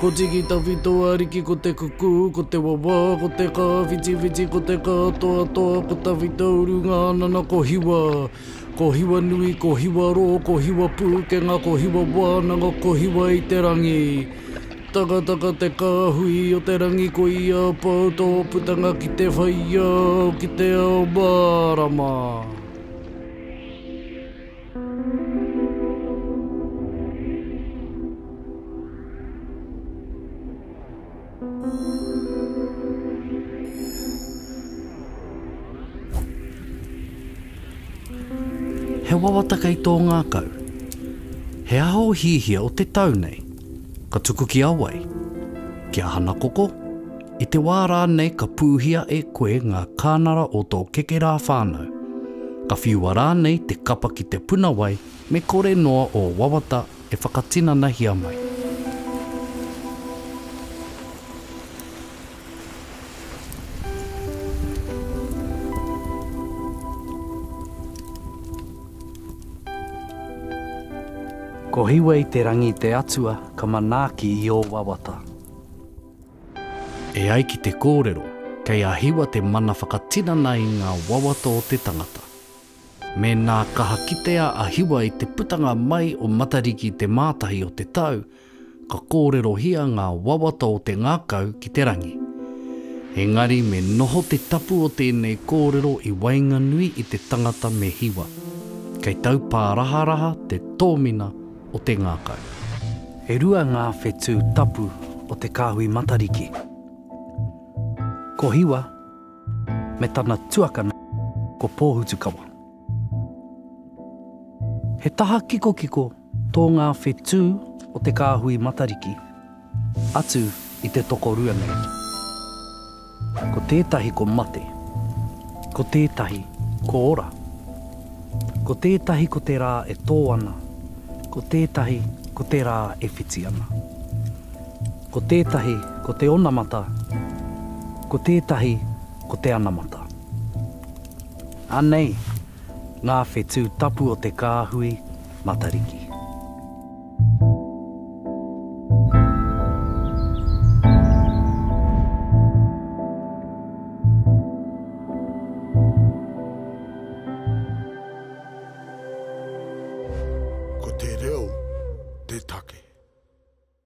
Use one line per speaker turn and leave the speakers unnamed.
Ko Tiki Tawhito Ariki Ko te kukū, ko te wawā, ko te kā whitiwhiti, ko te kā toatoa, ko Tawhito Urunga Anana Ko Hiwa, ko Hiwa nui, ko Hiwa rō, ko Hiwa pūkenga, ko Hiwa wānanga, ko Hiwa i te rangi Takataka te kāhui o te rangi Ko ia a pau tō putanga ki te whai i a au ki te ao mārama. He wawata kei tō ngākau. He aha o hihia o te tau nei? Ka tuku ki a wai? Ki a Hanakoko? I te wā rānei ka pūhia e koe ngā kānara o tō kekerā whānau, ka whiua rānei te kapa ki te puna wai me kore noa ō wawata e whakatinanahia mai. Ko Hiwei-te-rangi te atua ka manaaki i ō wawata. E ai ki te kōrero, kei a Hiwa te mana whakatinana i ngā wawata o te tangata. Mēnā kaha kitea a Hiwa i te putanga mai o Matariki te Mātahi o te tau, ka kōrerohia ngā wawata o te ngākau ki te rangi. Engari me noho te tapu o tēnei kōrero i waenganui i te tangata me Hiwa. Kei taupāraharaha te tōmina o te ngākau. E rua ngā whetū tapu o Te Kāhui Matariki. Ko Hiwa me tana tuakana ko Pōhutukawa. He taha kikokiko tō ngā whetū o Te Kāhui Matariki. Atu i te tokorua nei. Ko tētahi ko mate. Ko tētahi ko ora. Ko tētahi ko te rā e tō ana. Ko tētahi ko te rā e whiti ana. Ko tētahi ko te onamata. Ko tētahi ko te anamata. Anei ngā whetū tapu o te kāhui Matariki. Ko te reo te take.